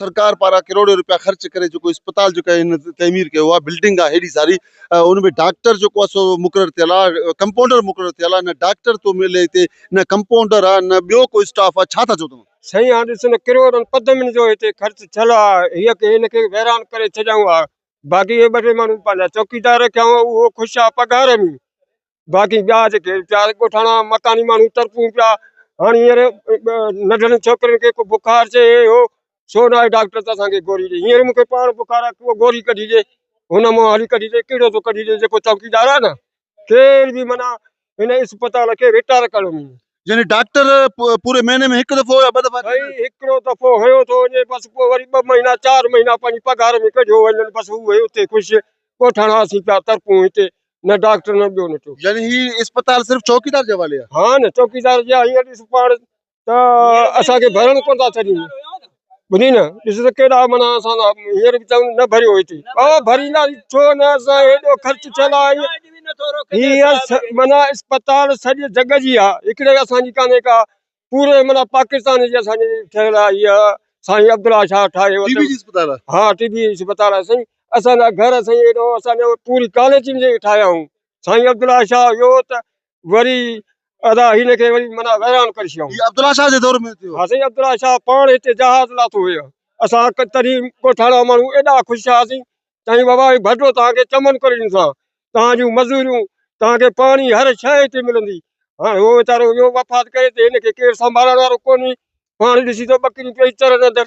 سرڪار پاران ڪروڙين روپيا خرچ ڪري جيڪو اسپتال جيڪو هن تعمير ڪيو آهي بلڊنگ آهي هيڏي ساري ان ۾ ڊاڪٽر جيڪو آهي سو مقرر ٿيل آهي ڪمپائونڊر مقرر ٿيل آهي نه ڊاڪٽر ٿو ملي هتي نه ڪمپائونڊر آهي نه ٻيو ڪو اسٽاف آهي ڇا ٿا چئو توهان سائين هاڻ ڏس نه ڪروڙن پدمن جو هتي خرچ ٿيل آهي هيء هن کي ويران ڪري ڇڏيائون ها باقي هي ٻه ٽي ماڻهو پنهنجا چوڪيدار رکيائون اهو خوش آهي پگهار ۾ باقي ٻيا جيڪي ويچارا ڳوٺاڻا مڪاني ماڻهو تڙپون پيا هاڻي هينئر ننڍڙين ڇوڪرين کي ڪو بخار اچي هي هو ڇو نه آيو ڊاڪٽر ته اسانکي گوري ڏي هينئر مونکي پاڻ بخار آهي ڪو گوري ڪڍي ڏي هن مون هلي ڪڍي ڏي ڪهڙو ٿو ڪڍي ڏي جيڪو چوڪيدار آهي نه ڪير به منا هن اسپتال کي رٽائر ڪرڻو ملي يعني ڊاڪٽر پ- پوري مهيني ۾ هڪ دفعو يا ٻه دفعا سائين هڪڙو دفعو هيو ٿو وڃي بس پوء وري ٻه مهينا چار مهينا پنهنجي پگهار ۾ ڪڍيو وڃن بس هو هي اتي خوش ڳوٺاڻا اسين پيا ترپون هتي نه ڊاڪٽر نه ٻيو نه ٽيون. يعني هي اسپتال صرف چوڪيدار جي حوالي آ. ها نه چوڪيدار جي آ هينئر ڏس پاڻ ته اسان کي ڀرڻ ڪونه ٿا ڇڏين ٻڌين نه ڏس ته ڪيڏا معنيٰ اسان سان هينئر به چون نه ڀريو هتي ڀاء ڀريندا ڇو نه اسان هيڏو خرچ ٿيل آ هينئر هيء معنيٰ اسپتال سڄي جڳ جي آ هڪڙي اسان جي ڪانهي ڪا پوري معنيٰ پاڪستان جي اسان جي ٺهيل آهي اها سائين عبدالله شاهه ٺاهي ٽي بي جي اسپتال آهي ها ٽي بي جي اسپتال آهي سائين اسان جا گهر سائين ايڏو اسان جو پوري ڪاليچين جي ٺاهيا هئون سائين عبدالله شاهه اهو ته وري ادا هن کي وري معنيٰ ويران ڪري ڇڏيائون هي عبدالله شاهه جي دور ۾ ٿيو ها سائين عبدالله شاهه پاڻ هتي جهاز لاٿو هيو اسان تڏهن ڳوٺاڻا ماڻهو ايڏا خوش ٿياسين چيائين بابا هي ڀٽو توهان کي چمن ڪري ڏيندوسان توهان جون مزوريون توهان کي پاڻي هر شيء هتي ملندي هاڻي هو ويچارو ويو وفات ڪري ته هن کي ڪير سنڀالڻ وارو ڪونهي پاڻي ڏسي ته ٻڪريون پيئي چرن اندر